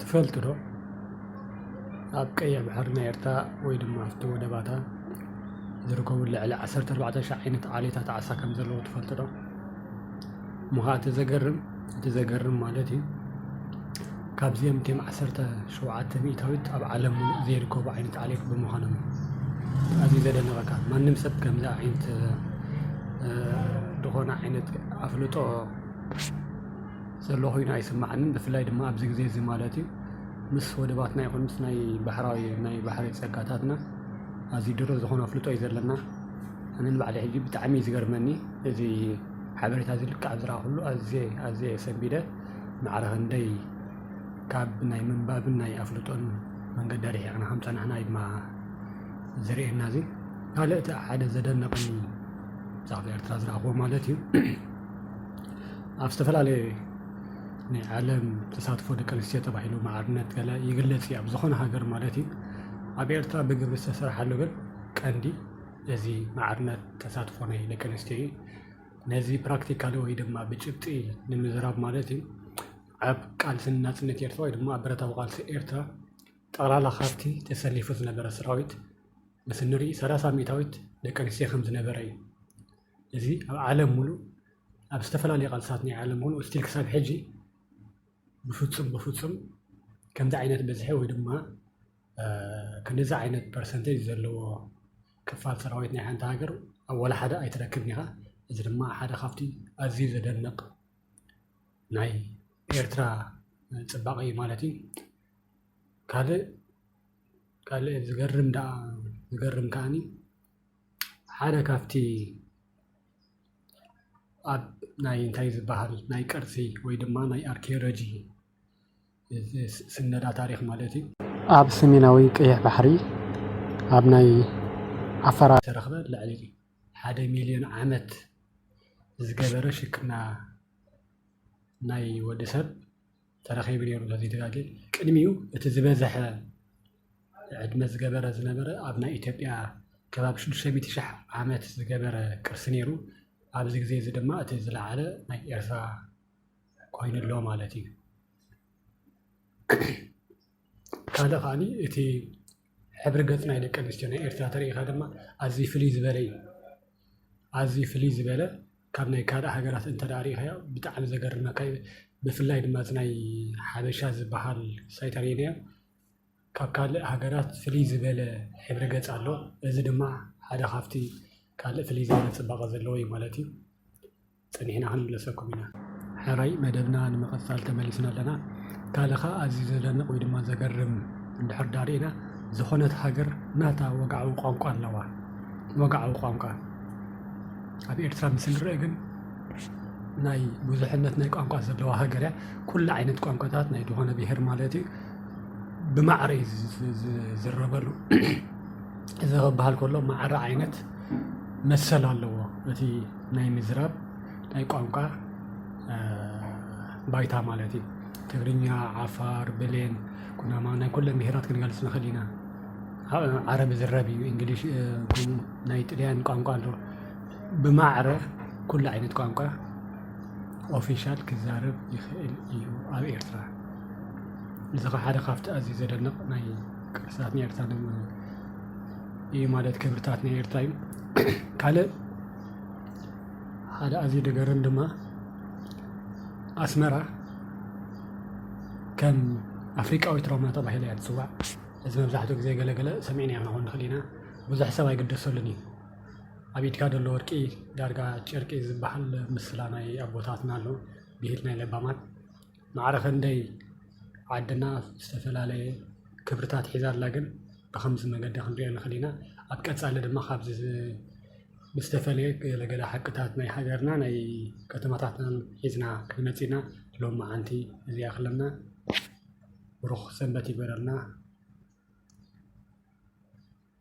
ትፈልጡ ዶ ኣብ ቀይሕ ባሕሪ ናይ ኤርትራ ወይ ድማ ኣብቲ ወደባታ ዝርከቡ ልዕሊ 14,000 ዓይነት ዓሌታት ዓሳ ከም ዘለዎ ትፈልጡ ዶ? እሞ ከዓ እቲ ዘገርም እቲ ዘገርም ማለት እዩ ካብዚኦም እትም 17 ሚእታዊት ኣብ ዓለም ሙሉእ ዘይርከቡ ዓይነት ዓሌት ብምዃኖም ኣዝዩ ዘደነቐካ ማንም ሰብ ከምዚ ዓይነት ዝኾነ ዓይነት ኣፍልጦ ዘሎ ኮይኑ ኣይስማዓንን ብፍላይ ድማ ኣብዚ ግዜ እዚ ማለት እዩ ምስ ወደባትና ይኹን ምስ ናይ ባሕራዊ ናይ ባሕሪ ጸጋታትና ኣዝዩ ድሩት ዝኾነ ኣፍልጦ እዩ ዘለና ኣነ ንባዕሊ ሕጂ ብጣዕሚ እዩ ዝገርመኒ እዚ ሓበሬታ እዚ ልክዕ ኣብ ዝረኣኹሉ ኣዝየ ኣዝየ ሰንቢደ ማዕረ ክንደይ ካብ ናይ ምንባብን ናይ ኣፍልጦን መንገዲ ኣርሒቕና ከም ጸናሕና እዩ ድማ ዝርእየና እዚ ካልእ እቲ ሓደ ዘደነቐኒ ብዛዕባ ኤርትራ ዝረኣኹዎ ማለት እዩ ኣብ ዝተፈላለየ ናይ ዓለም ተሳትፎ ደቂ ኣንስትዮ ተባሂሉ ማዕርነት ገለ ይግለጽ እዩ ኣብ ዝኾነ ሃገር ማለት እዩ ኣብ ኤርትራ ብግብሪ ዝተሰርሓሉ ግን ቀንዲ እዚ ማዕርነት ተሳትፎ ናይ ደቂ ኣንስትዮ እዩ ነዚ ፕራክቲካሊ ወይ ድማ ብጭብጢ ንምዝራብ ማለት እዩ ኣብ ቃልሲ ናጽነት ኤርትራ ወይ ድማ ኣብ ብረታዊ ቃልሲ ኤርትራ ጠቕላላ ካብቲ ተሰሊፉ ዝነበረ ሰራዊት ምስ ንርኢ ሰላሳ ሚእታዊት ደቂ ኣንስትዮ ከም ዝነበረ እዩ እዚ ኣብ ዓለም ሙሉእ ኣብ ዝተፈላለዩ ቃልስታት ናይ ዓለም ሙሉእ ስቲል ክሳብ ሕጂ ብፍፁም ብፍፁም ከምዚ ዓይነት ብዝሒ ወይ ድማ ክንድዚ ዓይነት ፐርሰንቴጅ ዘለዎ ክፋል ሰራዊት ናይ ሓንቲ ሃገር ኣብ ዋላ ሓደ ኣይትረክብን ኢኻ። እዚ ድማ ሓደ ካብቲ ኣዝዩ ዘደንቕ ናይ ኤርትራ ፅባቐ እዩ ማለት እዩ። ካልእ ካልእ ዝገርም ደኣ ዝገርም ከዓኒ ሓደ ካብቲ ኣብ ናይ እንታይ ዝበሃል ናይ ቅርሲ ወይ ድማ ናይ ኣርኪዮሎጂ ስነዳ ታሪኽ ማለት እዩ ኣብ ሰሜናዊ ቀይሕ ባሕሪ ኣብ ናይ ዓፈራ ተረኽበ ልዕሊ ሓደ ሚልዮን ዓመት ዝገበረ ሽክና ናይ ወዲ ሰብ ተረኺቡ ነይሩ ተዘይተጋጌ ቅድሚኡ እቲ ዝበዘሐ ዕድመ ዝገበረ ዝነበረ ኣብ ናይ ኢትዮጵያ ከባቢ ሽዱሽተ ሚእቲ ሽሕ ዓመት ዝገበረ ቅርሲ ነይሩ ኣብዚ ግዜ እዚ ድማ እቲ ዝለዓለ ናይ ኤርትራ ኮይኑ ኣሎ ማለት እዩ ካልእ ከዓኒ እቲ ሕብሪ ገፅ ናይ ደቂ ኣንስትዮ ናይ ኤርትራ ተሪኢኻ ድማ ኣዝዩ ፍልይ ዝበለ እዩ። ኣዝዩ ፍልይ ዝበለ ካብ ናይ ካልእ ሃገራት እንተ ሪኢኻዮ ብጣዕሚ ዘገርመካ እዩ። ብፍላይ ድማ እቲ ናይ ሓበሻ ዝበሃል ሳይት ሪኤናዮ ካብ ካልእ ሃገራት ፍልይ ዝበለ ሕብሪ ገፅ ኣለዎ። እዚ ድማ ሓደ ካብቲ ካልእ ፍልይ ዝበለ ፅባቐ ዘለዎ እዩ ማለት እዩ። ጸኒሕና ክንምለሰኩም ኢና። ሕራይ መደብና ንምቕጻል ተመሊስና ኣለና። ካልእ ከኣ ኣዝዩ ዘደንቕ ወይ ድማ ዘገርም እንድሕር ድኣ ርኢና፣ ዝኾነት ሃገር ናታ ወግዓዊ ቋንቋ ኣለዋ። ወግዓዊ ቋንቋ ኣብ ኤርትራ ምስ እንርእ ግን ናይ ብዙሕነት ናይ ቋንቋ ዘለዋ ሃገር እያ። ኩሉ ዓይነት ቋንቋታት ናይ ዝኾነ ብሄር ማለት እዩ ብማዕረ እዩ ዝዝረበሉ። እዚ ክበሃል ከሎ ማዕረ ዓይነት መሰል ኣለዎ እቲ ናይ ምዝራብ ናይ ቋንቋ ባይታ ማለት እዩ። ትግርኛ፣ ዓፋር፣ ብሌን፣ ኩናማ ናይ ኩለን ብሄራት ክንገልፅ ንኽእል ኢና። ዓረብ ዝረብ እዩ እንግሊሽ ከምኡ ናይ ጥልያን ቋንቋ ኣሎ ብማዕረ ኩሉ ዓይነት ቋንቋ ኦፊሻል ክዛረብ ይኽእል እዩ ኣብ ኤርትራ እዚ ኸ ሓደ ካብቲ ኣዝዩ ዘደንቕ ናይ ቅርስታት ናይ ኤርትራ እዩ ማለት ክብርታት ናይ ኤርትራ እዩ ካልእ ሓደ ኣዝዩ ደገርም ድማ ኣስመራ ከም ኣፍሪቃዊት ሮማ ተባሂላ እያ ትፅዋዕ እዚ መብዛሕትኡ ግዜ ገለገለ ሰሚዕና ኢና ክኾን ንኽእል ኢና ብዙሕ ሰብ ኣይግደሰሉን እዩ ኣብ ኢድካ ዘሎ ወርቂ ዳርጋ ጨርቂ ዝበሃል ምስላ ናይ ኣቦታትና ኣሎ ብሂል ናይ ለባማት ማዕረ ክንደይ ዓድና ዝተፈላለየ ክብርታት ሒዛ ኣላ ግን ብኸምዚ መገዲ ክንሪኦ ንኽእል ኢና። ኣብ ቀፃሊ ድማ ካብዚ ዝተፈለየ ገለ ገለ ሓቅታት ናይ ሃገርና ናይ ከተማታትናን ሒዝና ክንመፅእ ኢና። ሎማዓንቲ እዚ ይኣኽለና። ብሩኽ ሰንበት ይግበረልና።